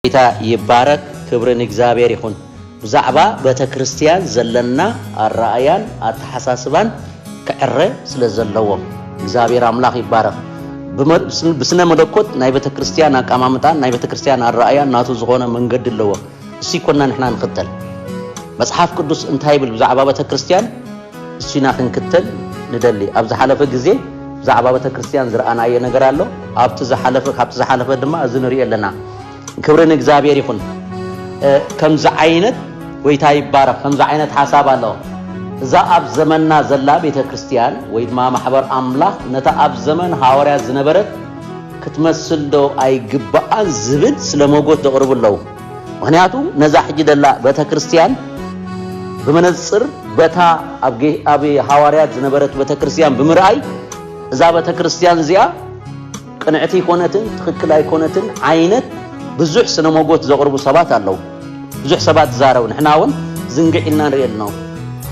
ጌታ ይባረክ ክብሪ ንእግዚኣብሔር ይኩን ብዛዕባ በተክርስትያን ዘለና ኣራእያን ኣተሓሳስባን ክዕረ ስለ ዘለዎ እግዚኣብሔር ኣምላክ ይባረክ ብስነ መለኮት ናይ በተክርስትያን ኣቃማምጣን ናይ በተክርስትያን ኣራእያን ናቱ ዝኮነ መንገዲ ኣለዎ እሱ ይኮና ንሕና ንክተል መጽሓፍ ቅዱስ እንታይ ይብል ብዛዕባ በተክርስትያን እሱ ኢና ክንክተል ንደሊ። ኣብ ዝሓለፈ ግዜ ብዛዕባ ቤተክርስትያን ዝረኣናዮ ነገር ኣሎ። ኣብቲ ዝሓለፈ ካብቲ ዝሓለፈ ድማ እዚ ንሪኦ ኣለና። ክብሪ ንእግዚኣብሔር ይኹን። ከምዚ ዓይነት ጎይታ ይባረኽ። ከምዚ ዓይነት ሓሳብ ኣሎ። እዛ ኣብ ዘመንና ዘላ ቤተክርስትያን ወይ ድማ ማሕበር ኣምላኽ ነታ ኣብ ዘመን ሃዋርያት ዝነበረት ክትመስል ዶ ኣይግባኣን ዝብል ስለ ሞጎት ዘቕርቡ ኣለዉ። ምክንያቱ ነዛ ሕጂ ደላ በተክርስትያን ብመነጽር በታ ኣብ ሃዋርያት ዝነበረት በተክርስትያን ብምርኣይ እዛ በተክርስትያን እዚኣ ቅንዕቲ ኣይኮነትን ትክክል ኣይኮነትን ዓይነት ብዙሕ ስነ ሞጎት ዘቕርቡ ሰባት ኣለዉ ብዙሕ ሰባት ዝዛረቡ ንሕና እውን ዝንግዕ ኢልና ንርኢ ኣሎ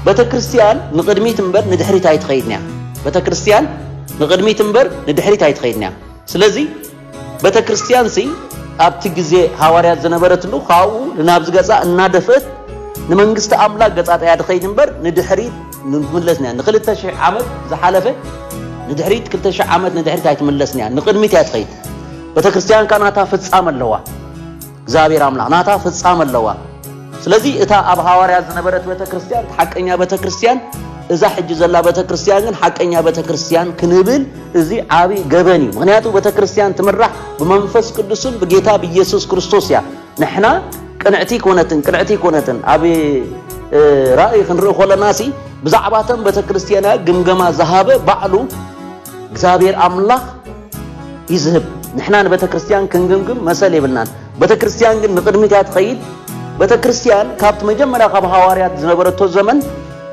ቤተ ክርስትያን ንቕድሚት እምበር ንድሕሪት ኣይትኸይድን እያ ቤተ ክርስትያን ንቕድሚት እምበር ንድሕሪት ኣይትኸይድን እያ ስለዚ ቤተክርስትያንሲ ኣብቲ ግዜ ሃዋርያት ዝነበረትሉ ካብኡ ንናብዚ ገጻ እናደፍእት ንመንግስቲ ኣምላክ ገጻጣያ ድኸይድ እምበር ንድሕሪት ንትምለስን እያ ንክልተ ሽሕ ዓመት ዝሓለፈ ንድሕሪት ክልተ ሽሕ ዓመት ንድሕሪት ኣይትምለስን እያ ንቅድሚት እያ ትኸይድ ቤተክርስትያንካ ናታ ፍጻመ ኣለዋ እግዚኣብሔር ኣምላኽ ናታ ፍጻመ ኣለዋ። ስለዚ እታ ኣብ ሃዋርያ ዝነበረት ቤተ ክርስቲያን ሓቀኛ ቤተ ክርስቲያን እዛ ሕጂ ዘላ ቤተ ክርስቲያን ግን ሓቀኛ ቤተ ክርስቲያን ክንብል እዚ ዓቢ ገበን እዩ ምክንያቱ ቤተ ክርስቲያን ትምራሕ ብመንፈስ ቅዱስን ብጌታ ብኢየሱስ ክርስቶስ እያ ንሕና ቅንዕቲ ኮነትን ቅንዕቲ ኮነትን ኣብ ራእይ ክንርኢ ኮለና ሲ ብዛዕባተን ቤተ ክርስቲያና ግምገማ ዝሃበ ባዕሉ እግዚኣብሔር ኣምላኽ ይዝህብ ንሕና ንበተክርስትያን ክንግምግም መሰል የብልናን በተክርስትያን ግን ንቅድሚት እያ ትኸይድ በተክርስትያን ካብቲ መጀመርያ ካብ ሃዋርያት ዝነበረቶ ዘመን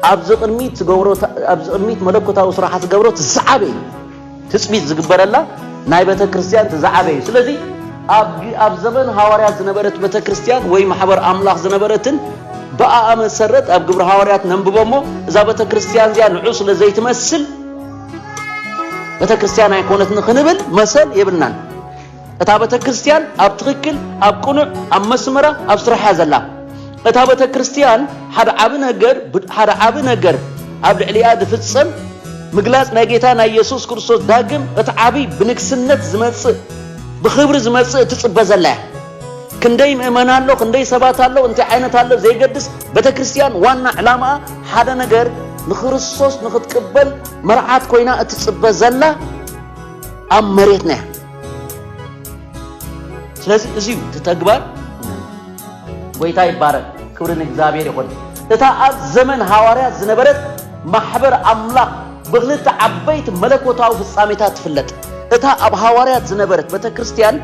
ኣብዚ ቅድሚት ትገብሮ ኣብዚ ቅድሚት መለኮታዊ ስራሓ ትገብሮ ትዝዓበ እዩ ትፅቢት ዝግበረላ ናይ በተክርስትያን ትዝዓበ እዩ ስለዚ ኣብ ዘመን ሃዋርያት ዝነበረት በተክርስትያን ወይ ማሕበር ኣምላኽ ዝነበረትን ብኣኣ መሰረት ኣብ ግብሪ ሃዋርያት ነንብቦ እሞ እዛ በተክርስትያን እዚኣ ንዑ ስለ ዘይትመስል ቤተክርስትያን ኣይኮነትን ክንብል መሰል የብልናን። እታ ቤተክርስትያን ኣብ ትክክል ኣብ ቅኑዕ ኣብ መስመራ ኣብ ስራሕያ ዘላ እታ ቤተክርስትያን ሓደ ዓቢ ነገር ሓደ ዓቢ ነገር ኣብ ልዕሊኣ ዝፍጸም ምግላጽ ናይ ጌታ ናይ የሱስ ክርስቶስ ዳግም እቲ ዓብዪ ብንግስነት ዝመጽእ ብኽብሪ ዝመጽእ እትጽበ ዘላ እያ ክንደይ ምእመና ኣሎ ክንደይ ሰባት ኣሎ እንታይ ዓይነት ኣሎ ዘይገድስ ቤተ ክርስቲያን ዋና ዕላማኣ ሓደ ነገር ንክርስቶስ ንክትቅበል መርዓት ኮይና እትፅበ ዘላ ኣብ መሬትና እያ ስለዚ እዚዩ እቲ ተግባር ጎይታ ይባረክ ክብሪ ንእግዚኣብሔር ይኹን እታ ኣብ ዘመን ሃዋርያት ዝነበረት ማሕበር ኣምላኽ ብክልተ ዓበይቲ መለኮታዊ ፍጻሜታት ትፍለጥ እታ ኣብ ሃዋርያት ዝነበረት ቤተ ክርስቲያን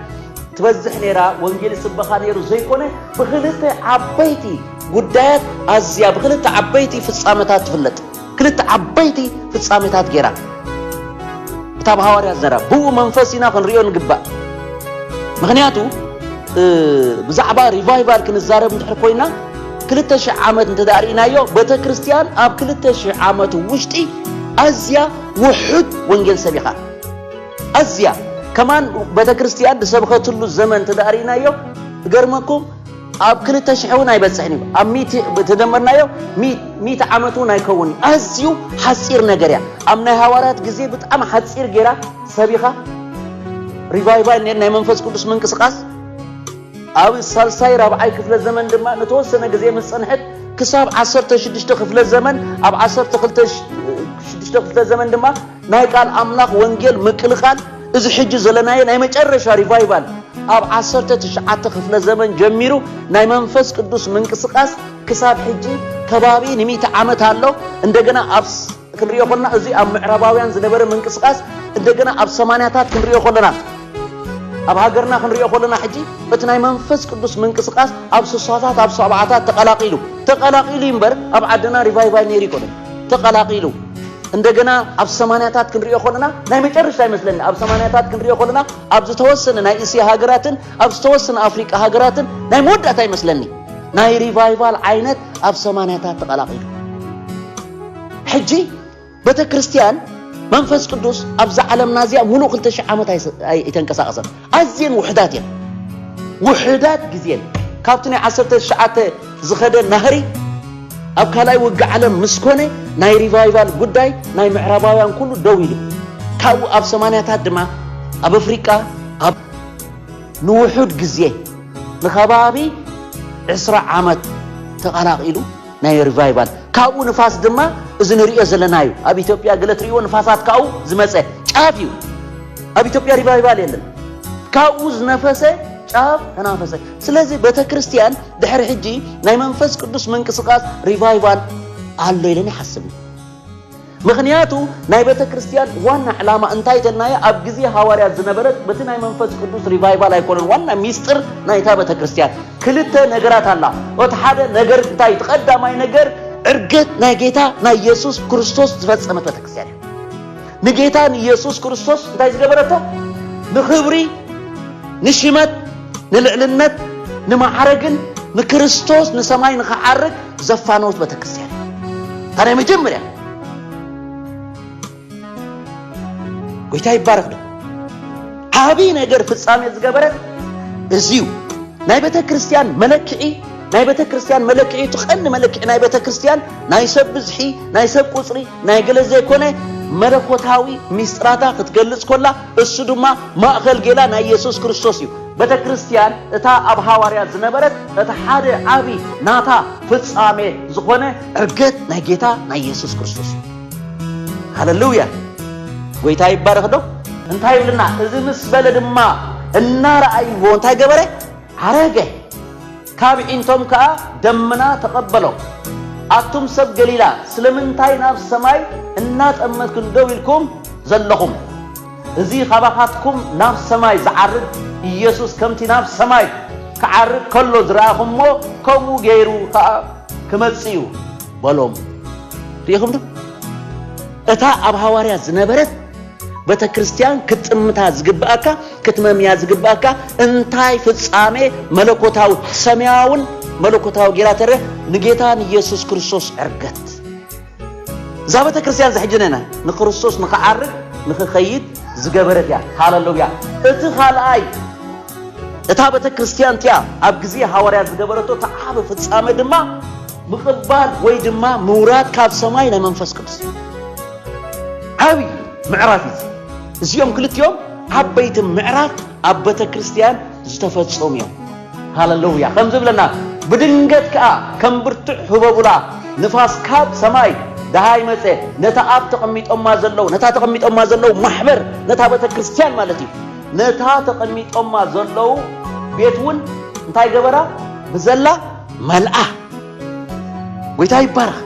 ትበዝሕ ነይራ፣ ወንጌል ይስበኻ ነይሩ ዘይኮነ ብኽልተ ዓበይቲ ጉዳያት ኣዝያ ብኽልተ ዓበይቲ ፍጻመታት ትፍለጥ ክልተ ዓበይቲ ፍጻሜታት ገይራ እታ ብሃዋርያት ዘራ ብኡ መንፈስ ኢና ክንሪኦ ንግባእ ምክንያቱ ብዛዕባ ሪቫይቫል ክንዛረብ እንድሕር ኮይና ክልተ ሽሕ ዓመት እንተ ርእናዮ ቤተ ክርስቲያን ኣብ ክልተ ሽሕ ዓመት ውሽጢ ኣዝያ ውሑድ ወንጌል ሰቢኻ ኣዝያ ከማን ቤተክርስትያን ዝሰብኸትሉ ዘመን ተዳሪእናዮ እገርመኩም ኣብ ክልተ ሽሕ እውን ኣይበፅሕን እዩ ኣብ ሚት ተደመርናዮ ሚት ዓመት እውን ኣይከውን እዩ ኣዝዩ ሓፂር ነገር እያ ኣብ ናይ ሃዋርያት ግዜ ብጣዕሚ ሓፂር ጌራ ሰቢኻ ሪቫይቫል ኔር ናይ መንፈስ ቅዱስ ምንቅስቃስ ኣብ ሳልሳይ ራብዓይ ክፍለ ዘመን ድማ ንተወሰነ ግዜ ምስ ፀንሐት ክሳብ ዓሰርተ ሽዱሽተ ክፍለ ዘመን ኣብ ዓሰርተ ክልተ ሽዱሽተ ክፍለ ዘመን ድማ ናይ ቃል ኣምላኽ ወንጌል ምቅልቃል እዚ ሕጂ ዘለናዮ ናይ መጨረሻ ሪቫይቫል ኣብ ዓሰርተ ትሽዓተ ክፍለ ዘመን ጀሚሩ ናይ መንፈስ ቅዱስ ምንቅስቃስ ክሳብ ሕጂ ከባቢ ንሚእቲ ዓመት ኣሎ እንደገና ኣብ ክንሪኦ ኮለና እዚ ኣብ ምዕራባውያን ዝነበረ ምንቅስቃስ እንደገና ኣብ ሰማንያታት ክንሪኦ ኮለና ኣብ ሃገርና ክንሪኦ ኮለና ሕጂ እቲ ናይ መንፈስ ቅዱስ ምንቅስቃስ ኣብ ስሳታት ኣብ ሰብዓታት ተቀላቂሉ ተቀላቂሉ እምበር ኣብ ዓድና ሪቫይቫል ነይሩ ይኮነ ተቐላቒሉ እንደገና ኣብ ሰማንያታት ክንሪኦ ከለና ናይ መጨረሻ ይመስለኒ ኣብ ሰማንያታት ክንሪኦ ከለና ኣብ ዝተወሰነ ናይ እስያ ሃገራትን ኣብ ዝተወሰነ ኣፍሪቃ ሃገራትን ናይ መወዳእታ ይመስለኒ ናይ ሪቫይቫል ዓይነት ኣብ ሰማንያታት ተቐላቒሉ ሕጂ ቤተ ክርስቲያን መንፈስ ቅዱስ ኣብዛ ዓለምና እዚኣ ሙሉእ ክልተ ሽሕ ዓመት ኣይተንቀሳቐሰን ኣዝየን ውሑዳት እየን። ውሑዳት ግዜን ካብቲ ናይ ዓሰርተ ትሽዓተ ዝኸደ ናህሪ ኣብ ካልኣይ ውግእ ዓለም ምስ ኮነ ናይ ሪቫይቫል ጉዳይ ናይ ምዕራባውያን ኩሉ ደው ኢሉ ካብኡ ኣብ ሰማንያታት ድማ ኣብ ኣፍሪቃ ኣብ ንውሑድ ግዜ ንከባቢ ዕስራ ዓመት ተቐላቒሉ ናይ ሪቫይቫል ካብኡ ንፋስ ድማ እዚ ንርእዮ ዘለና እዩ ኣብ ኢትዮጵያ ገለ ትርእይዎ ንፋሳት ካብኡ ዝመፀ ጫፍ እዩ ኣብ ኢትዮጵያ ሪቫይቫል የለን ካብኡ ዝነፈሰ ጫፍ ተናፈሰ ስለዚ ቤተ ክርስቲያን ድሕሪ ሕጂ ናይ መንፈስ ቅዱስ ምንቅስቃስ ሪቫይቫል ኣሎ ኢለን ይሓስብ እዩ ምኽንያቱ ናይ ቤተክርስትያን ዋና ዕላማ እንታይ ተልናዮ ኣብ ግዜ ሃዋርያት ዝነበረት በቲ ናይ መንፈስ ቅዱስ ሪቫይቫል ኣይኮነን ዋና ሚስጥር ናይታ ቤተክርስትያን ክልተ ነገራት ኣላ ኦቲ ሓደ ነገር እንታይ እቲ ቀዳማይ ነገር ዕርገት ናይ ጌታ ናይ ኢየሱስ ክርስቶስ ዝፈጸመት ቤተክርስትያን እያ ንጌታ ንኢየሱስ ክርስቶስ እንታይ ዝገበረቶ ንኽብሪ ንሽመት ንልዕልነት ንማዕረግን ንክርስቶስ ንሰማይ ንኽዓርግ ዘፋነውት ቤተክርስቲያን እታ ናይ መጀመርያ ጎይታ ይባረክ ዶ ዓብይ ነገር ፍጻሜ ዝገበረ እዚዩ ናይ ቤተ ክርስቲያን መለክዒ ናይ ቤተ ክርስቲያን መለክዒ እቲ ቀንዲ መለክዒ ናይ ቤተ ክርስቲያን ናይ ሰብ ብዝሒ ናይ ሰብ ቁፅሪ ናይ ገለ ዘይኮነ መለኮታዊ ሚስጥራታ ክትገልጽ ኮላ እሱ ድማ ማእኸል ጌላ ናይ የሱስ ክርስቶስ እዩ ቤተክርስትያን እታ ኣብ ሃዋርያት ዝነበረት እቲ ሓደ ዓቢ ናታ ፍጻሜ ዝኾነ ዕርገት ናይ ጌታ ናይ የሱስ ክርስቶስ እዩ። ሃለሉያ! ጎይታ ይባረኽ ዶ? እንታይ ይብልና እዚ ምስ በለ ድማ እናረኣይዎ እንታይ ገበረ ዓረገ። ካብ ኣዒንቶም ከኣ ደምና ተቐበሎም። ኣቱም ሰብ ገሊላ፣ ስለምንታይ ናብ ሰማይ እናጠመትክን ደው ኢልኩም ዘሎኹም? እዚ ኻባኻትኩም ናብ ሰማይ ዚዓርግ ኢየሱስ፣ ከምቲ ናብ ሰማይ ኪዓርግ ከሎ ዝረኣኹምዎ፣ ከምኡ ገይሩ ኸኣ ኪመጽእ እዩ በሎም። ርኢኹምዶ? እታ ኣብ ሃዋርያት ዝነበረት፣ ቤተክርስትያን ክትጥምታ ዝግብኣካ ክትመምያ ዝግብኣካ እንታይ ፍጻሜ መለኮታዊ ሰማያውን መለኮታዊ ጌራ ተረ ንጌታ ንኢየሱስ ክርስቶስ ዕርገት እዛ ቤተክርስትያን ዝሕጅነና ንክርስቶስ ንክዓርግ ንክኸይድ ዝገበረት እያ ሃለሉያ እቲ ካልኣይ እታ ቤተክርስትያን እቲያ ኣብ ግዜ ሃዋርያ ዝገበረቶ እቲ ዓቢ ፍጻሜ ድማ ምቕባል ወይ ድማ ምውራድ ካብ ሰማይ ናይ መንፈስ ቅዱስ ዓቢ ምዕራፍ እዩ እዚኦም ክልቲኦም ዓበይቲ ምዕራፍ ኣብ ቤተ ክርስቲያን ዝተፈጸሙ እዮም ሃለሉያ ከም ዝብለና ብድንገት ከዓ ከም ብርቱዕ ህበቡላ ንፋስ ካብ ሰማይ ደሃይ መፀ ነታ ኣብ ተቐሚጦማ ዘለዉ ነታ ተቐሚጦማ ዘለዉ ማሕበር ነታ ቤተ ክርስቲያን ማለት እዩ ነታ ተቐሚጦማ ዘለዉ ቤት እውን እንታይ ገበራ ብዘላ መልኣ ጎይታ ይባረኽ።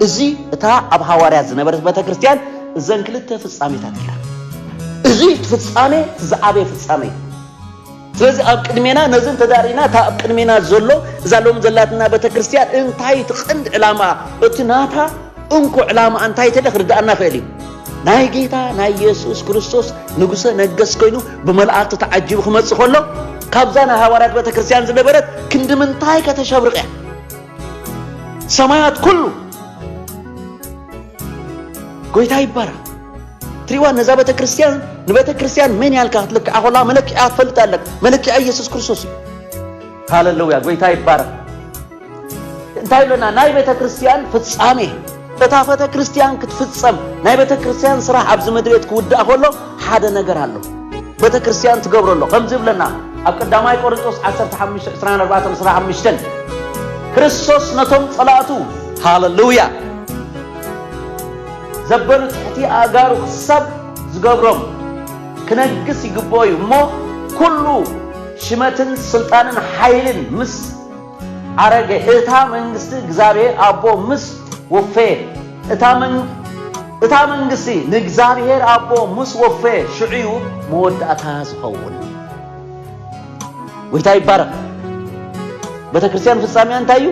እዚ እታ ኣብ ሃዋርያት ዝነበረት ቤተ ክርስቲያን እዘን ክልተ ፍጻሜታት ጌራ። እዚ ፍጻሜ ዝዓበየ ፍጻሜ እዩ። ስለዚ ኣብ ቅድሜና ነዚ ተዳሪና እታ ኣብ ቅድሜና ዘሎ እዛ ሎም ዘላትና ቤተ ክርስቲያን እንታይ እቲ ቀንዲ ዕላማ እቲ ናታ እንኮ ዕላማኣ እንታይ ተለ ክርድኣና ይኽእል እዩ። ናይ ጌታ ናይ የሱስ ክርስቶስ ንጉሰ ነገስ ኮይኑ ብመላእክቲ ተዓጂቡ ክመጽእ ከሎ ካብዛ ናይ ሃዋርያት ቤተ ክርስቲያን ዝነበረት ክንዲ ምንታይ ከተሸብርቕ እያ ሰማያት ኩሉ ጎይታ ይባራ ትሪዋ ነዛ ቤተ ክርስቲያን ንቤተ ክርስቲያን መን ያልካ ክትልክዓ ኮላ መለክዒያ ትፈልጥ ኣለካ መለክዒያ ኢየሱስ ክርስቶስ እዩ ሃለሉያ ጎይታ ይባረክ እንታይ ብለና ናይ ቤተ ክርስቲያን ፍጻሜ እታ ቤተ ክርስቲያን ክትፍጸም ናይ ቤተ ክርስቲያን ስራሕ ኣብዚ ምድሬት ክውዳእ ከሎ ሓደ ነገር ኣሎ ቤተ ክርስቲያን ትገብሮ ኣሎ ከምዚ ብለና ኣብ ቀዳማይ ቆርንጦስ 152425 ክርስቶስ ነቶም ጸላእቱ ሃለሉያ ዘበሉ ትሕቲ ኣእጋሩ ክሳብ ዝገብሮም ክነግስ ይግብኦ እዩ እሞ ኩሉ ሽመትን ስልጣንን ሓይልን ምስ ኣረገ እታ መንግስቲ እግዚኣብሔር ኣቦ ምስ ወፈየ እታ መንግ እታ መንግስቲ ንእግዚኣብሔር ኣቦ ምስ ወፈየ ሽዑዩ መወዳእታ ዝኸውን ጎይታ ይባረኽ ቤተክርስቲያን ፍጻሜያ እንታይ እዩ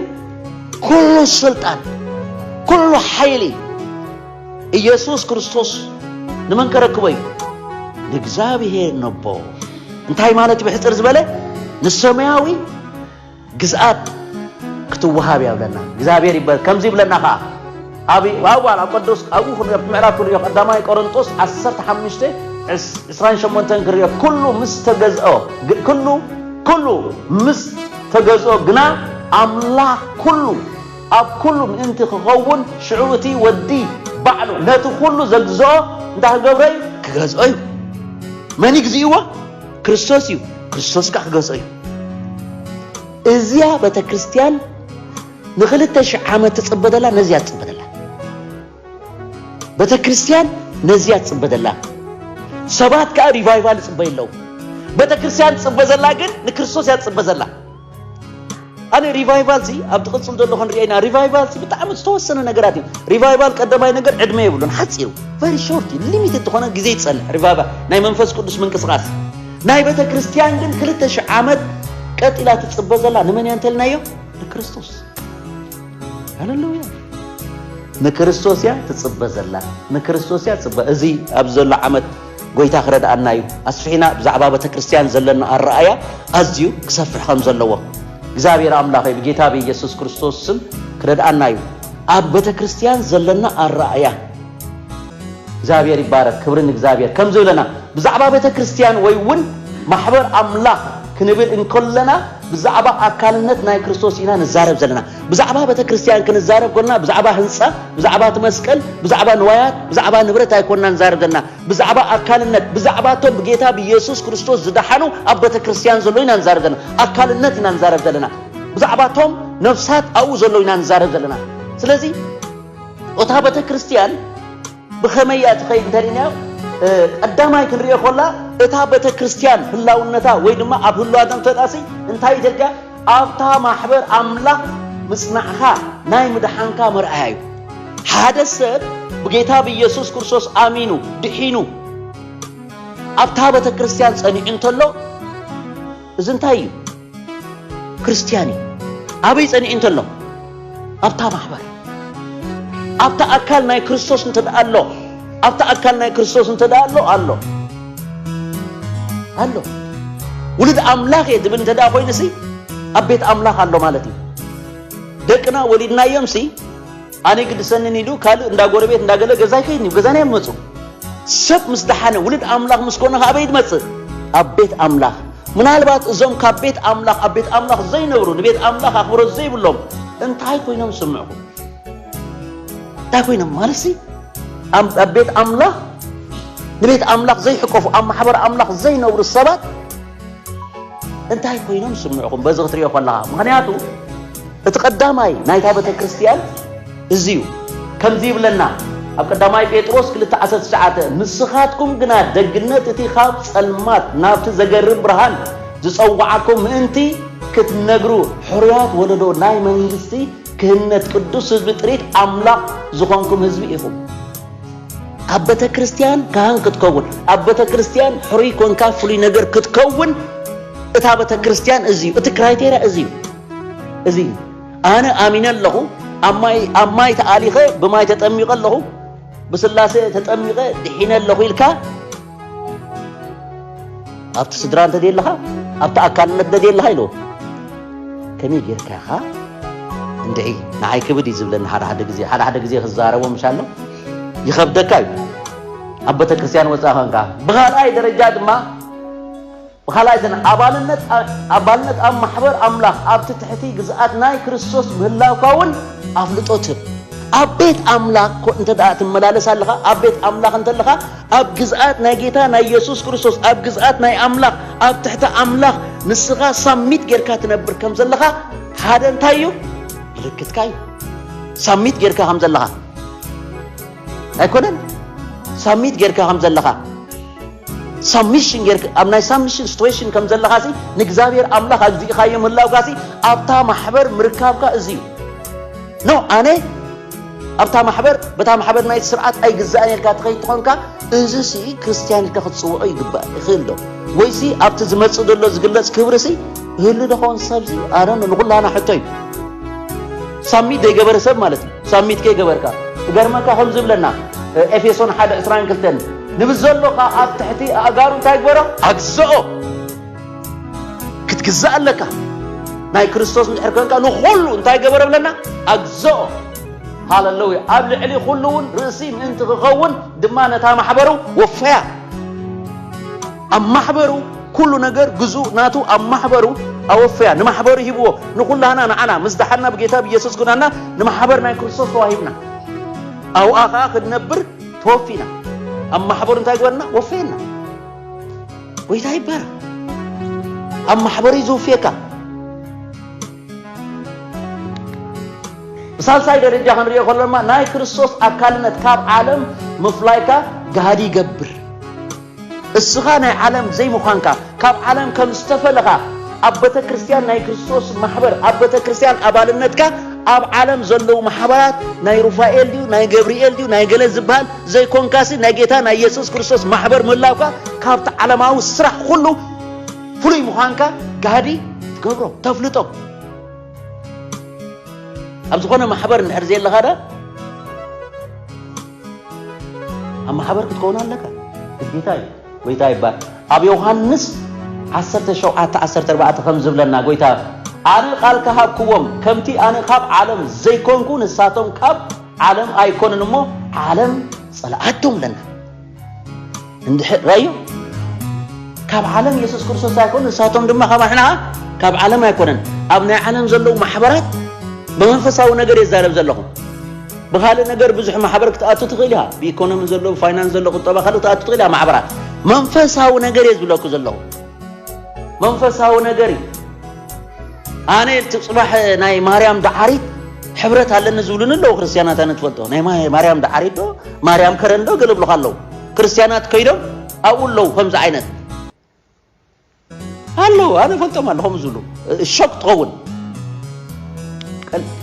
ኩሉ ስልጣን ኩሉ ሓይሊ ኢየሱስ ክርስቶስ ንመን ከረክቦ እዩ? ንእግዚኣብሔር ነቦ። እንታይ ማለት ብሕፅር ዝበለ ንሰማያዊ ግዝኣት ክትወሃብ እያ ብለና እግዚኣብሔር ይበ ከምዚ ይብለና ከዓ ኣብ ዋላ ቅዱስ ኣብኡ ክንሪኦ ምዕራፍ ክንሪኦ ቀዳማይ ቆሮንጦስ 15 28 ክንሪኦ ኩሉ ምስ ተገዝኦ ኩሉ ኩሉ ምስ ተገዝኦ ግና ኣምላኽ ኩሉ ኣብ ኩሉ ምእንቲ ኪኸውን፣ ሽዑ እቲ ወዲ ባዕሉ ነቲ ኩሉ ዘግዝኦ እንታይ ክገብሮ እዩ? ክገዝኦ እዩ። መን እዩ ግዝእዎ? ክርስቶስ እዩ። ክርስቶስ ከኣ ክገዝኦ እዩ። እዚያ ቤተ ክርስቲያን ንክልተ ሽሕ ዓመት ትጽበ ዘላ ነዚያ ትጽበ ዘላ ቤተ ክርስቲያን ነዚያ ትጽበ ዘላ ሰባት ከኣ ሪቫይቫል ይጽበዩ ኣለዉ። ቤተ ክርስቲያን ትጽበ ዘላ ግን ንክርስቶስ እያ ትጽበ ዘላ። ኣነ ሪቫይቫል ሲ ኣብ ትቕፅል ዘሎ ክንሪኦ ኢና ሪቫይቫል ሲ ብጣዕሚ ዝተወሰነ ነገራት እዩ ሪቫይቫል ቀዳማይ ነገር ዕድመ የብሉን ሓፂሩ ቨሪ ሾርት እዩ ሊሚትድ ዝኾነ ግዜ ይፀንሕ ሪቫይቫል ናይ መንፈስ ቅዱስ ምንቅስቓስ ናይ ቤተ ክርስቲያን ግን ክልተ ሽሕ ዓመት ቀጢላ ትፅበ ዘላ ንመን እያ እንተልናዮ ንክርስቶስ ሃለሉያ ንክርስቶስ እያ ትፅበ ዘላ ንክርስቶስ እያ ትፅበ እዚ ኣብዚ ዘሎ ዓመት ጎይታ ክረድኣና እዩ ኣስፊሕና ብዛዕባ በተክርስትያን ዘለና ኣረኣያ ኣዝዩ ክሰፍሕ ከም ዘለዎ እግዚኣብሔር ኣምላኸይ ብጌታ ብኢየሱስ ክርስቶስ ስም ክረድኣና እዩ ኣብ በተክርስትያን ዘለና ኣረኣያ እግዚኣብሔር ይባረክ ክብሪ ንእግዚኣብሔር ከም ዝብለና ብዛዕባ ቤተ ክርስትያን ወይ እውን ማሕበር ኣምላኽ ክንብል እንከለና ብዛዕባ ኣካልነት ናይ ክርስቶስ ኢና ንዛረብ ዘለና ብዛዕባ ቤተክርስትያን ክንዛረብ ኮና ብዛዕባ ህንጻ ብዛዕባ እቲ መስቀል ብዛዕባ ንዋያት ብዛዕባ ንብረት ኣይኮና ንዛረብ ዘለና ብዛዕባ ኣካልነት ብዛዕባ እቶም ብጌታ ብኢየሱስ ክርስቶስ ዝደሓኑ ኣብ ቤተክርስትያን ዘሎ ኢና ንዛረብ ዘለና ኣካልነት ኢና ንዛረብ ዘለና ብዛዕባ እቶም ነፍሳት ኣብኡ ዘሎ ኢና ንዛረብ ዘለና ስለዚ እታ ቤተክርስትያን ብኸመይ እያ ትኸይድ እንተሪእናዮ ቀዳማይ ክንሪኦ ኮላ እታ ቤተ ክርስቲያን ህላውነታ ወይ ድማ ኣብ ህልዋታ እንተጣሲ እንታይ እዩ ተልካ ኣብታ ማሕበር ኣምላኽ ምጽናዕኻ ናይ ምድሓንካ መርኣያ እዩ ሓደ ሰብ ብጌታ ብኢየሱስ ክርስቶስ ኣሚኑ ድሒኑ ኣብታ ቤተ ክርስቲያን ጸኒዑ እንተሎ እዚ እንታይ እዩ ክርስትያን እዩ ኣበይ ጸኒዑ እንተሎ ኣብታ ማሕበር ኣብታ ኣካል ናይ ክርስቶስ እንተ ኣሎ ኣብታ ኣካል ናይ ክርስቶስ እንተ ኣሎ ኣሎ ኣሎ ውሉድ ኣምላኽ እየ ዝብል እንተ ኮይኑ ሲ ኣብ ቤት ኣምላኽ ኣሎ ማለት እዩ ደቅና ወሊድናዮም ሲ ኣነ ግድሰንን ኢሉ ካልእ እንዳ ጎረቤት እንዳ ገለ ገዛ ኣይከይድን እዩ ገዛና እዮም ዝመጹ ሰብ ምስ ደሓነ ውሉድ ኣምላኽ ምስ ኮነ ኣበይ ድመጽእ ኣብ ቤት ኣምላኽ ምናልባት እዞም ካብ ቤት ኣምላኽ ኣብ ቤት ኣምላኽ ዘይነብሩ ንቤት ኣምላኽ ኣኽብሮት ዘይብሎም እንታይ ኮይኖም ዝስምዕኹም እንታይ ኮይኖም ማለሲ ኣብ ቤት ኣምላኽ ንቤት ኣምላኽ ዘይሕቀፉ ኣብ ማሕበር ኣምላኽ ዘይነብሩ ሰባት እንታይ ኮይኖም ስምዕኹም በዚ ክትሪኦ ከለኻ ምክንያቱ እቲ ቀዳማይ ናይታ ቤተ ክርስቲያን እዚ እዩ ከምዚ ይብለና ኣብ ቀዳማይ ጴጥሮስ 219 ንስኻትኩም ግና ደግነት እቲ ካብ ጸልማት ናብቲ ዘገርም ብርሃን ዝጸዋዓኩም ምእንቲ ክትነግሩ ሕሩያት ወለዶ ናይ መንግስቲ ክህነት ቅዱስ ህዝቢ ጥሪት ኣምላኽ ዝኾንኩም ህዝቢ ኢኹም። ኣብ ቤተ ክርስቲያን ካህን ክትከውን ኣብ ቤተ ክርስቲያን ሕሩይ ኮንካ ፍሉይ ነገር ክትከውን እታ ቤተ ክርስቲያን እዚ እዩ እቲ ክራይቴሪያ እዚ እዩ እዚ እዩ ኣነ ኣሚነ ኣለኹ ኣብ ማይ ተኣሊኸ ብማይ ተጠሚቐ ኣለኹ ብስላሴ ተጠሚቐ ድሒነ ኣለኹ ኢልካ ኣብቲ ስድራ እንተ ደየለኻ ኣብቲ ኣካልነት እንተ ደየለኻ ኢሉ ከመይ ጌርካ ኢኻ እንድዒ ንዓይ ክብድ እዩ ዝብለኒ ሓደ ሓደ ግዜ ሓደ ሓደ ግዜ ክዛረቦ ምሻሎ ይኸብደካ እዩ ኣብ ቤተ ክርስቲያን ወፃእ ኸንካ ብኻልኣይ ደረጃ ድማ ብኻልኣይ ግን ኣባልነት ኣባልነት ኣብ ማሕበር ኣምላኽ ኣብቲ ትሕቲ ግዝኣት ናይ ክርስቶስ ምህላውካ እውን ኣፍልጦ ትህብ። ኣብ ቤት ኣምላኽ ኮ እንተ ደኣ ትመላለስ ኣለኻ፣ ኣብ ቤት ኣምላኽ እንተለኻ ኣብ ግዝኣት ናይ ጌታ ናይ የሱስ ክርስቶስ ኣብ ግዝኣት ናይ ኣምላኽ ኣብ ትሕቲ ኣምላኽ ንስኻ ሳሚት ጌርካ ትነብር ከም ዘለኻ ሓደ እንታይ እዩ ምልክትካ እዩ ሳሚት ጌርካ ከም ዘለኻ ኣይኮነን ሳሚት ጌርካ ከም ዘለኻ ሳሚሽን ጌርካ ኣብ ናይ ሳሚሽን ሲትዌሽን ከም ዘለኻ ሲ ንእግዚኣብሔር ኣምላኽ ኣግዚእኻዮ ምህላውካ ሲ ኣብታ ማሕበር ምርካብካ እዚ እዩ ኖ ኣነ ኣብታ ማሕበር በታ ማሕበር ናይ ስርዓት ኣይግዛእን ኢልካ ትኸይድ ትኾንካ እዚ ሲ ክርስትያን ኢልካ ክትፅውዖ ይግባእ ይኽእል ዶ ወይሲ ኣብቲ ዝመፅእ ዘሎ ዝግለፅ ክብሪ ሲ ህሉ ዶ ኸውን ሰብዚ ኣረ ንኹላና ሕቶ እዩ ሳሚት ዘይገበረ ሰብ ማለት እዩ ሳሚት ከይገበርካ እገርመካ ከምዚ ብለና ኤፌሶን ሓደ ዕስራን ክልተን ንብዘሎ ኸዓ ኣብ ትሕቲ ኣእጋሩ እንታይ ግበሮ ኣግዘኦ ክትግዛእ ኣለካ ናይ ክርስቶስ እንድሕር ኮንካ ንኹሉ እንታይ ገበረ ብለና ኣግዘኦ ሃለለውያ ኣብ ልዕሊ ኩሉ እውን ርእሲ ምእንቲ ክኸውን ድማ ነታ ማሕበሩ ወፈያ ኣብ ማሕበሩ ኩሉ ነገር ግዙ ናቱ ኣብ ማሕበሩ ኣወፈያ ንማሕበሩ ሂብዎ ንኩላህና ንዓና ምስ ደሓና ብጌታ ብየሱስ ኩናና ንማሕበር ናይ ክርስቶስ ተዋሂብና ኣብኣ ከኣ ክንነብር ተወፊና ኣብ ማሕበሩ እንታይ ግበርና ወፈየና ጎይታ ይባረ ኣብ ማሕበሩ እዩ ዝውፍየካ ብሳልሳይ ደረጃ ክንሪኦ ከሎማ ናይ ክርስቶስ ኣካልነት ካብ ዓለም ምፍላይካ ጋሃዲ ይገብር እስኻ ናይ ዓለም ዘይምዃንካ፣ ካብ ዓለም ከም ዝተፈለኻ፣ ኣብ በተክርስትያን ናይ ክርስቶስ ማሕበር ኣብ በተክርስትያን ኣባልነትካ ኣብ ዓለም ዘለዉ ማሕበራት ናይ ሩፋኤል ድዩ ናይ ገብርኤል ድዩ ናይ ገለ ዝበሃል ዘይኮንካሲ ናይ ጌታ ናይ የሱስ ክርስቶስ ማሕበር ምህላውካ ካብቲ ዓለማዊ ስራሕ ኩሉ ፍሉይ ምዃንካ ጋህዲ ትገብሮ ተፍልጦ ኣብ ዝኾነ ማሕበር እንድሕር ዘየለኻ ዳ ኣብ ማሕበር ክትከውን ኣለካ ግዴታ እዩ ጎይታ ይባል ኣብ ዮሃንስ ዓሰርተ ሸውዓተ ዓሰርተ ኣርባዕተ ከም ዝብለና ጎይታ ኣነ ቃል ከሃብክዎም ከምቲ ኣነ ካብ ዓለም ዘይኮንኩ ንሳቶም ካብ ዓለም ኣይኮንን እሞ ዓለም ጸልኣቶም ለና እንድሕር ራዮ ካብ ዓለም የሱስ ክርስቶስ ኣይኮነ ንሳቶም ድማ ካብ ኣሕና ካብ ዓለም ኣይኮነን ኣብ ናይ ዓለም ዘለዉ ማሕበራት ብመንፈሳዊ ነገር የዛረብ ዘለኹም ብካልእ ነገር ብዙሕ ማሕበር ክትኣቱ ትኽእል ኢኻ ብኢኮኖሚ ዘሎ ብፋይናንስ ዘሎ ቁጠባ ካልእ ክትኣቱ ትኽእል ኢኻ ማሕበራት መንፈሳዊ ነገር እየ ዝብለኩ ዘለኹ መንፈሳዊ ነገር እዩ ኣነ እቲ ጽባሕ ናይ ማርያም ደዓሪት ሕብረት ኣለኒ ዝብሉኒ ኣለዉ ክርስትያናት ኣነ ትፈልጦ ናይ ማርያም ደዓሪት ዶ ማርያም ከረን ዶ ገለ ብሉካ ኣለዉ ክርስትያናት ከይዶም ኣብኡ ኣለዉ ከምዚ ዓይነት ኣለዉ ኣነ ፈልጦም ኣሎ ከምኡ ዝብሉ ሾክ ትኸውን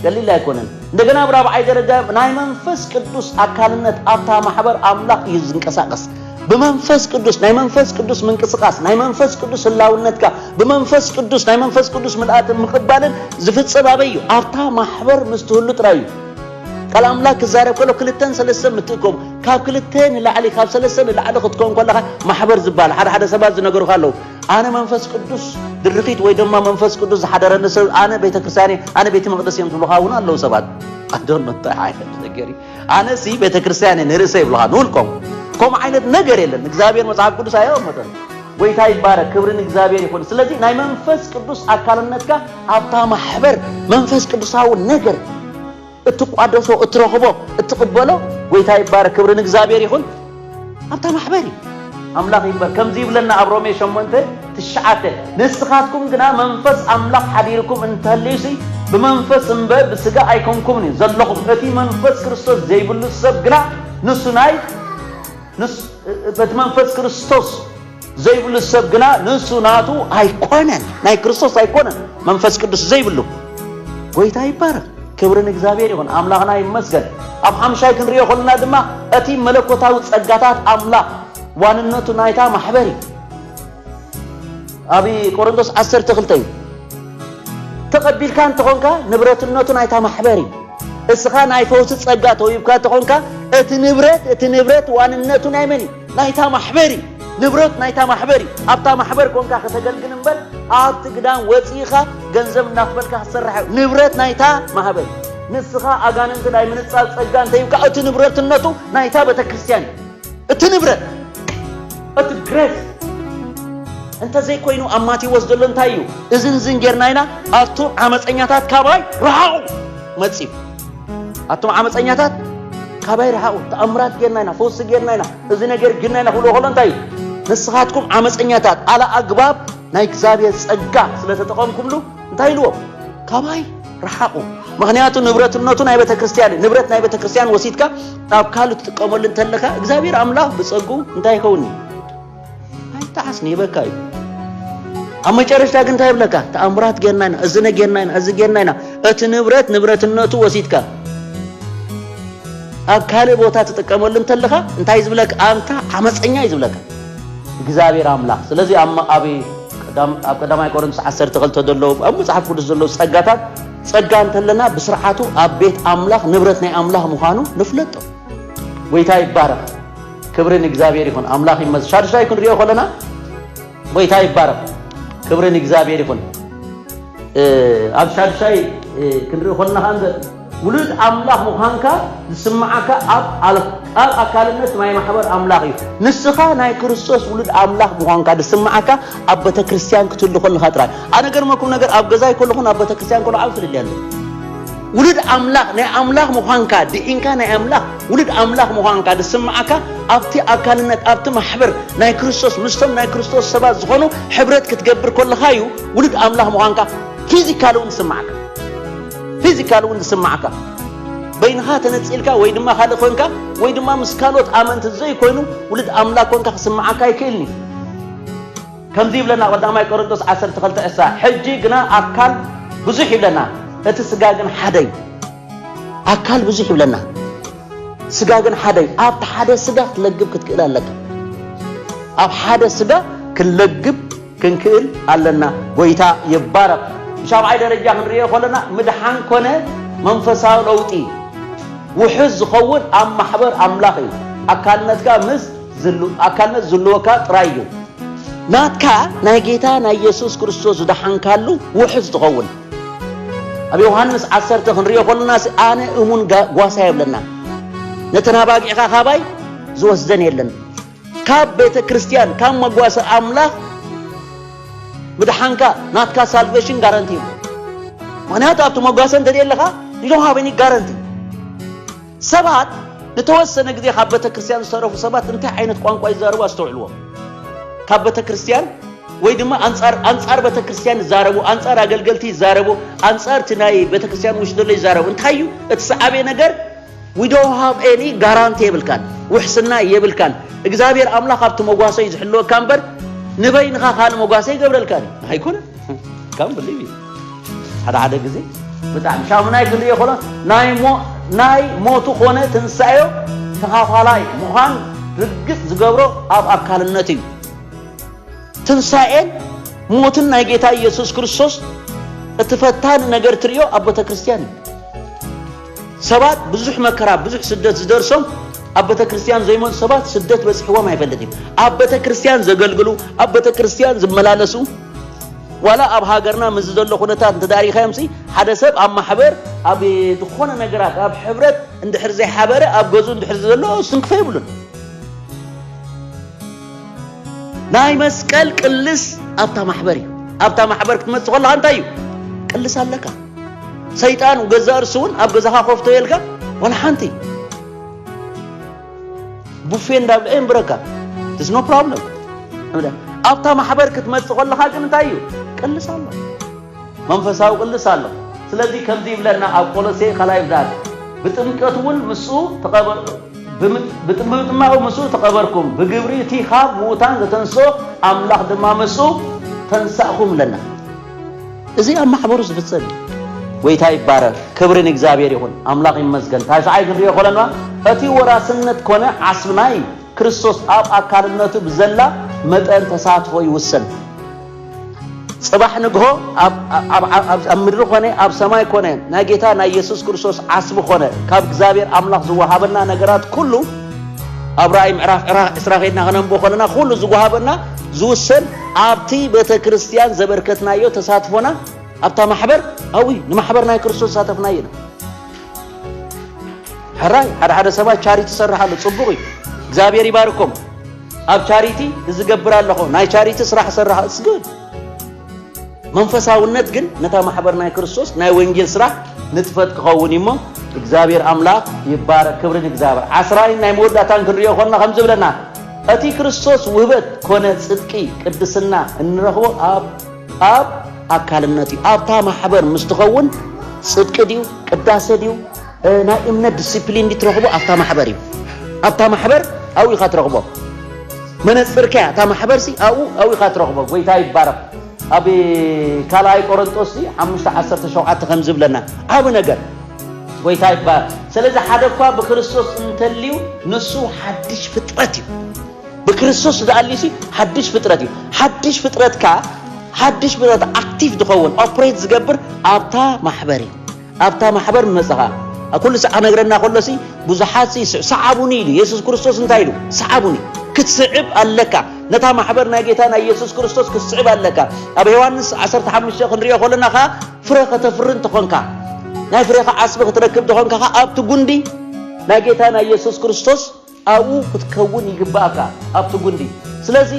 ቀሊል ኣይኮነን እንደገና ኣብ ራብዓይ ደረጃ ናይ መንፈስ ቅዱስ ኣካልነት ኣብታ ማሕበር ኣምላኽ እዩ ዝንቀሳቀስ ብመንፈስ ቅዱስ ናይ መንፈስ ቅዱስ ምንቅስቃስ ናይ መንፈስ ቅዱስ ህላውነትካ ብመንፈስ ቅዱስ ናይ መንፈስ ቅዱስ ምልኣትን ምቕባልን ዝፍጸም ኣበይ እዩ? ኣብታ ማሕበር ምስ ትህሉ ጥራይ እዩ። ቃል ኣምላክ ክዛረብ ከሎ ክልተን ሰለስተን ምትእከቡ ካብ ክልተ ንላዕሊ ካብ ሰለስተ ንላዕሊ ክትከውን ከለካ ማሕበር ዝበሃል ሓደ ሓደ ሰባት ዝነገሩካ ኣለዉ ኣነ መንፈስ ቅዱስ ድርኺት ወይ ድማ መንፈስ ቅዱስ ዝሓደረኒ ሰብ ኣነ ቤተክርስትያን ኣነ ቤተ መቅደስ እዮም ዝብሉካ እውን ኣለዉ ሰባት ኣዶኖ እንታይ ዓይነት ነገር ኣነሲ ቤተክርስትያን እየ ንርእሰ ይብልኻ ንውልቆም ከምኡ ዓይነት ነገር የለን ንእግዚኣብሔር መጽሓፍ ቅዱስ ኣየቐመጠን ጎይታ ይባረክ ክብሪ ንእግዚኣብሔር ይኹን ስለዚ ናይ መንፈስ ቅዱስ ኣካልነትካ ኣብታ ማሕበር መንፈስ ቅዱሳዊ ነገር እትቋደሶ እትረኽቦ እትቕበሎ ጎይታ ይባረክ ክብሪ ንእግዚኣብሔር ይኹን ኣብታ ማሕበር እዩ። ኣምላኽ ይክበር ከምዚ ይብለና ኣብ ሮሜ ሸሞንተ ትሽዓተ ንስኻትኩም ግና መንፈስ ኣምላኽ ሓዲርኩም እንተሀልዩሲ ብመንፈስ እምበር ብስጋ ኣይኮንኩምን እዩ ዘለኹም እቲ መንፈስ ክርስቶስ ዘይብሉ ሰብ ግና ንሱ ናይ ንሱ እቲ መንፈስ ክርስቶስ ዘይብሉ ሰብ ግና ንሱ ናቱ ኣይኮነን፣ ናይ ክርስቶስ ኣይኮነን፣ መንፈስ ቅዱስ ዘይብሉ። ጎይታ ይባረኽ፣ ክብሪ ንእግዚኣብሔር ይኹን፣ ኣምላኽና ይመስገን። ኣብ ሓምሻይ ክንሪኦ ከለና ድማ እቲ መለኮታዊ ጸጋታት ኣምላኽ ዋንነቱ ናይታ ማሕበር እዩ። ኣብ ቆሮንቶስ ዓሰርተ ክልተ እዩ ተቐቢልካ እንተኾንካ ንብረትነቱ ናይታ ማሕበር እዩ እስኻ ናይ ፈውሲ ጸጋ ተውሂብካ እንተኾንካ እቲ ንብረት እቲ ንብረት ዋንነቱ ናይ መን እዩ ናይታ ማሕበር እዩ ንብረት ናይታ ማሕበር እዩ ኣብታ ማሕበር ኮንካ ከተገልግል እምበር ኣብቲ ግዳም ወፂኢኻ ገንዘብ እናኽፈልካ ክትሰርሕ እዩ ንብረት ናይታ ማሕበር ንስኻ ኣጋንንቲ ናይ ምንፃል ፀጋ እንተይብካ እቲ ንብረትነቱ ናይታ ቤተክርስትያን እዩ እቲ ንብረት እቲ ግሬስ እንተዘይኮይኑ ኣብ ማቴዎስ ዘሎ እንታይ እዩ እዝን ዝን ጌርና ኢና ኣቱም ዓመፀኛታት ካባይ ረሓቑ መፅዩ ኣቶም ዓመፀኛታት ካባይ ረሓቑ ተኣምራት ጌርና ኢና ፈውሲ ጌርና ኢና እዚ ነገር ግና ኢና ክብሎ ከሎ እንታይ እዩ ንስኻትኩም ዓመፀኛታት ኣለ ኣግባብ ናይ እግዚኣብሔር ጸጋ ስለተጠቐምኩምሉ እንታይ ኢልዎ ካባይ ረሓቑ ምክንያቱ ንብረትነቱ ናይ ቤተ ክርስቲያን እዩ ንብረት ናይ ቤተ ክርስቲያን ወሲድካ ኣብ ካልእ ትጥቀመሉ እንተለካ እግዚኣብሔር ኣምላኽ ብጸጉ እንታይ ይኸውን እዩ ኣይተሓስኒ ይበካ እዩ ኣብ መጨረሽታ ግን እንታይ ይብለካ ተኣምራት ጌርና ኢና እዚ ነጌርና ኢና እዚ ጌርና ኢና እቲ ንብረት ንብረትነቱ ወሲድካ ኣብ ካልእ ቦታ ትጥቀመሉ እንተለኻ እንታይ እዩ ዝብለካ ኣንታ ዓመፀኛ እዩ ዝብለካ እግዚኣብሔር ኣምላኽ ስለዚ ኣብ ኣብ ቀዳማይ ቆሮንቶስ 12 ዘሎ ኣብ መጽሓፍ ቅዱስ ዘሎ ጸጋታት ጸጋ እንተለና ብስርዓቱ ኣብ ቤት ኣምላኽ ንብረት ናይ ኣምላኽ ምዃኑ ንፍለጦ ጎይታ ይባረኽ ክብሪ ንእግዚኣብሔር ይኹን ኣምላኽ ይመስ ሻዱሻይ ክንሪኦ ከለና ጎይታ ይባረኽ ክብሪ ንእግዚኣብሔር ይኹን ኣብ ሻዱሻይ ክንሪኦ ከለና ከንዘ ውሉድ ኣምላኽ ምዃንካ ዝስምዓካ ኣብ ኣብ ኣካልነት ናይ ማሕበር ኣምላኽ እዩ ንስኻ ናይ ክርስቶስ ውሉድ ኣምላኽ ምዃንካ ዝስምዓካ ኣብ ቤተ ክርስቲያን ክትህሉ ከለኻ ጥራይ ኣነ ገርመኩም ነገር ኣብ ገዛይ ከለኹን ኣብ ቤተ ክርስቲያን ከሎ ዓብ ፍልልያ ኣሎ ውሉድ ኣምላኽ ናይ ኣምላኽ ምዃንካ ድዒንካ ናይ ኣምላኽ ውሉድ ኣምላኽ ምዃንካ ዝስምዓካ ኣብቲ ኣካልነት ኣብቲ ማሕበር ናይ ክርስቶስ ምስቶም ናይ ክርስቶስ ሰባት ዝኾኑ ሕብረት ክትገብር ከለኻ እዩ ውሉድ ኣምላኽ ምዃንካ ፊዚካል እውን ዝስምዓካ ፊዚካል እውን ዝስምዓካ በይንኻ ተነፂልካ ወይ ድማ ካልእ ኮንካ ወይ ድማ ምስ ካልኦት ኣመንቲ ዘይኮይኑ ውሉድ ኣምላኽ ኮንካ ክስምዓካ ኣይክእልን እዩ ከምዚ ይብለና ቀዳማይ ቆሮንቶስ 12 ዕሳ ሕጂ ግና ኣካል ብዙሕ ይብለና እቲ ስጋ ግን ሓደ እዩ ኣካል ብዙሕ ይብለና ስጋ ግን ሓደ እዩ። ኣብቲ ሓደ ስጋ ክትለግብ ክትክእል ኣለካ። ኣብ ሓደ ስጋ ክንለግብ ክንክእል ኣለና። ጎይታ ይባረኽ። ብሻብዓይ ደረጃ ክንሪኦ ከለና ምድሓን ኮነ መንፈሳዊ ለውጢ ውሑስ ዝኸውን ኣብ ማሕበር ኣምላኽ እዩ። ኣካልነትካ ምስ ኣካልነት ዝልወካ ጥራይ እዩ ናትካ ናይ ጌታ ናይ የሱስ ክርስቶስ ዝደሓንካሉ ውሑስ ትኸውን። ኣብ ዮሃንስ ዓሰርተ ክንሪኦ ከለናሲ ኣነ እሙን ጓሳ የብለና ነተን ኣባጊዕኻ ካባይ ዝወስደን የለን ካብ ቤተ ክርስቲያን ካብ መጓሰ ኣምላኽ ምድሓንካ ናትካ ሳልቬሽን ጋረንቲ እዩ ምክንያቱ ኣብቲ መጓሰ እንተደየ ኣለኻ ዩ ዶን ሃቭ ኒ ጋረንቲ ሰባት ንተወሰነ ግዜ ካብ ቤተክርስትያን ዝተረፉ ሰባት እንታይ ዓይነት ቋንቋ ይዛረቡ ኣስተውዕልዎም። ካብ ቤተክርስትያን ወይ ድማ ኣንጻር ኣንጻር ቤተክርስትያን ይዛረቡ፣ ኣንጻር ኣገልገልቲ ይዛረቡ፣ ኣንጻር እቲ ናይ ቤተክርስትያን ውሽጢ ዘሎ ይዛረቡ። እንታይ እዩ እቲ ሰዓቤ ነገር? ዊ ዶንት ሃቭ ኤኒ ጋራንቲ የብልካን፣ ውሕስና የብልካን። እግዚኣብሔር ኣምላኽ ኣብቲ መጓሰ እዩ ዝሕልወካ እምበር ንበይንኻ ካልእ መጓሰ ይገብረልካን እዩ ኣይኮነን ካም ብሊቭ ሓደ ሓደ ግዜ ብጣዕሚ ሻሙናይ ክንሪኦ ከሎ ናይ ሞ ናይ ሞቱ ኮነ ትንሳኤዮ ተኻፋላይ ምዃን ርግጽ ዝገብሮ ኣብ ኣካልነት እዩ። ትንሳኤን ሞትን ናይ ጌታ ኢየሱስ ክርስቶስ እቲ ፈታኒ ነገር ትርእዮ ኣብ ቤተ ክርስቲያን እዩ። ሰባት ብዙሕ መከራ ብዙሕ ስደት ዝደርሶም ኣብ ቤተ ክርስቲያን ዘይመፁ ሰባት ስደት በፂሕዎም ኣይፈልጥ እዩ። ኣብ ቤተ ክርስቲያን ዘገልግሉ ኣብ ቤተ ክርስቲያን ዝመላለሱ ዋላ ኣብ ሃገርና ምስዚ ዘሎ ኩነታት እንተዳሪኻዮምሲ ሓደ ሰብ ኣብ ማሕበር ኣብ ዝኾነ ነገራት ኣብ ሕብረት እንድሕር ዘይሓበረ ኣብ ገዝኡ እንድሕር ዘሎ ስንክፈ ይብሉን ናይ መስቀል ቅልስ ኣብታ ማሕበር እዩ ኣብታ ማሕበር ክትመፅእ ከለካ እንታይ እዩ ቅልስ ኣለካ ሰይጣን ገዛ እርሱ እውን ኣብ ገዛኻ ኮፍቶ የልካ ዋላ ሓንቲ ቡፌ እንዳብልዐ የንብረካ ስ ኖ ፕሮብለም ኣብታ ማሕበር ክትመፅእ ከለኻ ግን እንታይ እዩ ቅልስ ኣሎ መንፈሳዊ ቅልስ ኣሎ ስለዚ ከምዚ ይብለና ኣብ ቆሎሴ ካልኣይ ብዳት ብጥምቀት እውን ምስኡ ብጥምጥማቑ ምስኡ ተቐበርኩም ብግብሪ እቲ ካብ ምዉታን ዘተንስኦ ኣምላኽ ድማ ምስኡ ተንሳእኹም ኣለና እዚ ኣብ ማሕበሩ ዝፍጸም እዩ። ጎይታ ይባረክ ክብሪ ንእግዚኣብሔር ይኹን ኣምላኽ ይመስገን ታሽዓይ ክንሪኦ ኮለና እቲ ወራስነት ኮነ ዓስቢ ናይ ክርስቶስ ኣብ ኣካልነቱ ብዘላ መጠን ተሳትፎ ይውሰን ጽባሕ ንግሆ ኣብ ምድሪ ኮነ ኣብ ሰማይ ኮነ ናይ ጌታ ናይ ኢየሱስ ክርስቶስ ዓስቢ ኮነ ካብ እግዚኣብሔር ኣምላኽ ዝወሃበና ነገራት ኩሉ ኣብ ራእይ ምዕራፍ ዕስራ ከድና ከነንብቦ ኮለና ኩሉ ዝወሃበና ዝውሰን ኣብቲ ቤተክርስትያን ዘበርከትናዮ ተሳትፎና ኣብታ ማሕበር ኣብይ ንማሕበር ናይ ክርስቶስ ተሳተፍናዮ ኢና። ሕራይ ሓደ ሓደ ሰባት ቻሪቲ ይሰርሕ ኣሎ፣ ጽቡቕ እዩ፣ እግዚኣብሔር ይባርኮም። ኣብ ቻሪቲ ዝገብር ኣለኹ፣ ናይ ቻሪቲ ስራሕ ሰርሕ እስግድ። መንፈሳውነት ግን ነታ ማሕበር ናይ ክርስቶስ ናይ ወንጌል ስራሕ ንጥፈት ክኸውን እዩሞ እግዚኣብሔር ኣምላኽ ይባረክ፣ ክብሪ ንእግዚኣብሔር። ዓስራይን ናይ መወዳእታን ክንሪኦ ኮና ከምዚ ብለና እቲ ክርስቶስ ውህበት ኮነ ጽድቂ፣ ቅድስና፣ እንረኽቦ ኣብ ኣብ ኣካልነት እዩ። ኣብታ ማሕበር ምስ ትኸውን ጽድቂ ድዩ ቅዳሴ ድዩ ናይ እምነት ዲሲፕሊን ድዩ ትረኽቦ ኣብታ ማሕበር እዩ። ኣብታ ማሕበር ኣብኡ ኢኻ ትረኽቦ። መነጽርካ እያ እታ ማሕበርሲ ኣብኡ ኣብኡ ኢኻ ትረኽቦ። ጎይታ ይባረኽ። ኣብ ካልኣይ ቆሮንጦስ ሓሙሽተ ዓሰርተ ሸውዓተ ከም ዝብለና ዓብ ነገር ጎይታ ይባረክ ስለዚ ሓደ እኳ ብክርስቶስ እንተልዩ ንሱ ሓድሽ ፍጥረት እዩ ብክርስቶስ ዝኣልዩሲ ሓድሽ ፍጥረት እዩ ሓድሽ ፍጥረት ከ ሓድሽ ፍጥረት ኣክቲቭ ዝኸውን ኦፕሬት ዝገብር ኣብታ ማሕበር እዩ ኣብታ ማሕበር መፅኻ ኩሉ ሰዓ ነግረና ከሎሲ ብዙሓት ይስዕ ሰዓቡኒ ኢሉ የሱስ ክርስቶስ እንታይ ኢሉ ሰዓቡኒ ክትስዕብ ኣለካ ነታ ማሕበር ናይ ጌታ ናይ የሱስ ክርስቶስ ክትስዕብ ኣለካ ኣብ ዮሃንስ 15 ክንሪኦ ከለና ከዓ ፍረ ከተፍሪ እንተኾንካ ናይ ፍሬኻ ዓስቢ ክትረክብ እንተኾንካ ኸ ኣብቲ ጉንዲ ናይ ጌታ ናይ የሱስ ክርስቶስ ኣብኡ ክትከውን ይግባእካ ኣብቲ ጉንዲ ስለዚ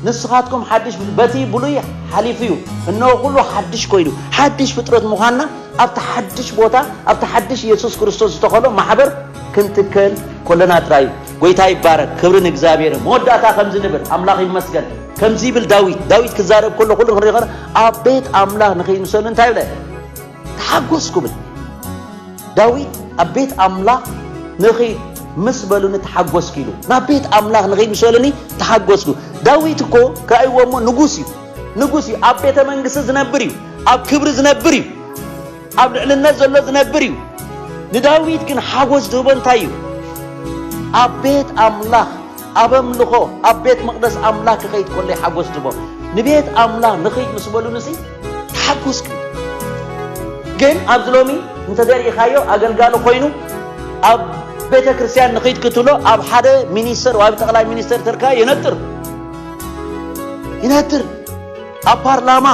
ንስኻትኩም ሓድሽ በቲ ብሉይ ሓሊፉ እዩ እነሆ ኩሉ ሓድሽ ኮይኑ ሓድሽ ፍጥረት ምዃንና ኣብቲ ሓድሽ ቦታ ኣብቲ ሓድሽ የሱስ ክርስቶስ ዝተኸሎ ማሕበር ክንትከል ኮለና ጥራይ እዩ ጎይታ ይባረክ ክብሪ ንእግዚኣብሔር መወዳእታ ከምዚ ንብል ኣምላኽ ይመስገን ከምዚ ይብል ዳዊት፣ ዳዊት ክዛረብ ከሎ ኩሉ ክንርኢ ከ ኣብ ቤት ኣምላኽ ንኸይምሰሉ እንታይ ብለ ተሓጎስኩ ብል ዳዊት ኣብ ቤት ኣምላኽ ንኸይ ምስ በሉኒ ተሓጎስኩ ኢሉ ናብ ቤት ኣምላኽ ንኸይምሰሉኒ ተሓጎስኩ ዳዊት እኮ ከእይዎ እሞ ንጉስ እዩ ንጉስ እዩ ኣብ ቤተ መንግስቲ ዝነብር እዩ ኣብ ክብሪ ዝነብር እዩ ኣብ ልዕልነት ዘሎ ዝነብር እዩ። ንዳዊት ግን ሓጎስ ዝህቦ እንታይ እዩ? ኣብ ቤት ኣምላኽ ኣብ ኣምልኾ ኣብ ቤት መቕደስ ኣምላኽ ክኸይድ ከሎ እዩ ሓጎስ ዝህቦ። ንቤት ኣምላኽ ንኽይድ ምስ በሉንሲ ተሓጎስኩ። ግን ኣብዚ ሎሚ እንተዘሪኢኻዮ ኣገልጋሊ ኮይኑ ኣብ ቤተ ክርስቲያን ንኽይድ ክትብሎ ኣብ ሓደ ሚኒስተር ወይ ኣብ ጠቕላይ ሚኒስተር ተርካ የነጥር ይነጥር ኣብ ፓርላማ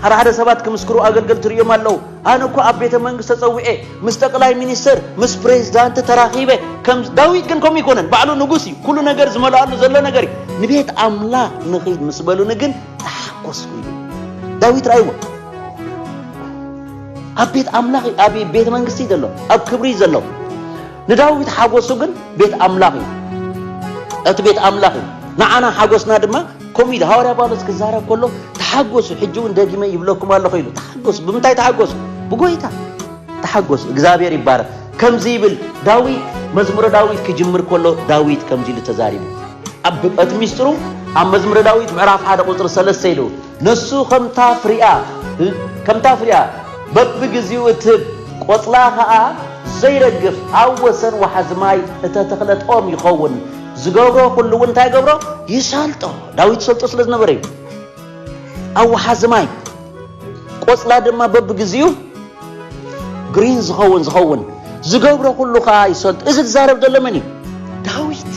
ሓደ ሓደ ሰባት ክምስክሩ ኣገልገልቲ ርእዮም ኣለዉ። ኣነ እኳ ኣብ ቤተ መንግስት ተጸዊዔ ምስ ጠቅላይ ሚኒስተር ምስ ፕሬዝዳንት ተራኺበ ከም ዳዊት ግን ከምኡ ይኮነን ባዕሉ ንጉስ እዩ ኩሉ ነገር ዝመልኣሉ ዘሎ ነገር እዩ ንቤት ኣምላኽ ንኺድ ምስ በሉኒ ግን ተሓኮስኩ ኢሉ ዳዊት ራእይዎ ኣብ ቤት ኣምላኽ ኣብ ቤተ መንግስቲ ዘሎ ኣብ ክብሪ ዘሎ ንዳዊት ሓጎሱ ግን ቤት ኣምላኽ እዩ። እቲ ቤት ኣምላኽ እዩ። ንዓና ሓጎስና ድማ ከምኡ ኢሉ ሃዋርያ ጳውሎስ ክዛረብ ከሎ ተሓጎሱ፣ ሕጂ እውን ደጊመ ይብለኩም ኣለኹ ኢሉ። ተሓጎሱ፣ ብምንታይ ተሓጎሱ? ብጎይታ ተሓጎሱ። እግዚኣብሔር ይባረክ። ከምዚ ይብል ዳዊት መዝሙረ ዳዊት ክጅምር ከሎ ዳዊት ከምዚ ኢሉ ተዛሪቡ። እቲ ሚስጥሩ ኣብ መዝሙረ ዳዊት ምዕራፍ ሓደ ቁፅሪ ሰለስተ ኢሉ ነሱ ከምታ ፍሪኣ ከምታ ፍሪኣ በብግዜኡ እትህብ ቆጽላ ከኣ ዘይረግፍ ኣብ ወሰን ወሓዚ ማይ እተተኽለት ኦም ይኸውን። ዝገብሮ ኩሉ እውን እንታይ ይገብሮ? ይሰልጦ። ዳዊት ይሰልጦ ስለ ዝነበረ እዩ። ኣብ ወሓዚ ማይ ቆጽላ ድማ በብግዜኡ ግሪን ዝኸውን ዝኸውን ዝገብሮ ኩሉ ከኣ ይሰልጦ። እዚ ዝዛረብ ዘሎ መን እዩ? ዳዊት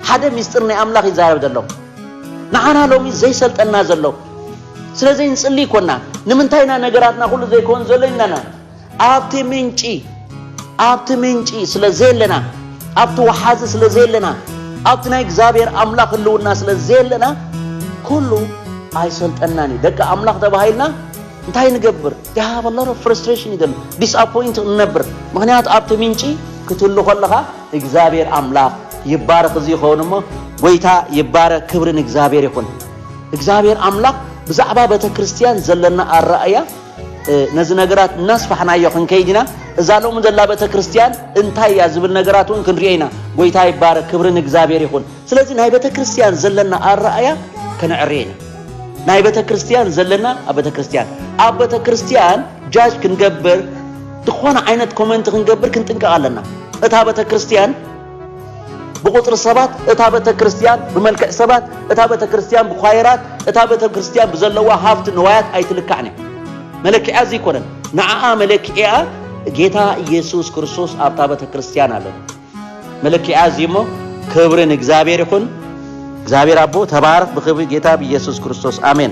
ሓደ ሚስጢር ናይ ኣምላኽ ይዛረብ ዘሎ ንዓና ሎሚ ዘይሰልጠና ዘሎ ስለዘይ ንጽሊ ኮና ንምንታይ ኢና ነገራትና ኩሉ ዘይኮን ዘሎ ኢልናና ኣብቲ ምንጪ ኣብቲ ምንጪ ስለ ዘየለና ኣብቲ ወሓዚ ስለ ዘየለና ኣብቲ ናይ እግዚኣብሔር ኣምላኽ ህልውና ስለ ዘየለና ኩሉ ኣይሰልጠናን እዩ ደቂ ኣምላኽ ተባሂልና እንታይ ንገብር ዳሃበለሮ ፍረስትሬሽን ይደሉ ዲስኣፖይንት ንነብር ምክንያቱ ኣብቲ ምንጪ ክትህሉ ከለኻ እግዛብሔር ኣምላክ ይባረክ እዚ ይከውን እሞ ጎይታ ይባረክ ክብሪ ንእግዛብሔር ይኩን እግዛብሔር ኣምላክ ብዛዕባ በተክርስትያን ዘለና ኣራእያ ነዚ ነገራት እናስፋሕናዮ ክንከይድ ኢና እዛ ሎሚ ዘላ በተክርስትያን እንታይ እያ ዝብል ነገራት እውን ክንሪኦ ኢና ጎይታ ይባረክ ክብሪ ንእግዛብሔር ይኩን ስለዚ ናይ በተክርስትያን ዘለና ኣራእያ ክንዕሪ ኢና ናይ በተክርስትያን ዘለና ኣብ በተክርስትያን ኣብ በተክርስትያን ጃጅ ክንገብር ዝኾነ ዓይነት ኮመንት ክንገብር ክንጥንቀቕ ኣለና። እታ ቤተ ክርስቲያን ብቁፅሪ ሰባት፣ እታ ቤተ ክርስቲያን ብመልክዕ ሰባት፣ እታ ቤተ ክርስቲያን ብኳየራት፣ እታ ቤተ ክርስቲያን ብዘለዋ ሃፍቲ ንዋያት ኣይትልካዕን እያ። መለክዕያ እዚ ይኮነን። ንዓኣ መለክዕያ ጌታ ኢየሱስ ክርስቶስ ኣብታ ቤተ ክርስቲያን ኣሎ። መለክዕያ እዚ እሞ ክብሪ ንእግዚኣብሔር ይኹን። እግዚኣብሔር ኣቦ ተባረኽ ብክብሪ ጌታ ብኢየሱስ ክርስቶስ ኣሜን።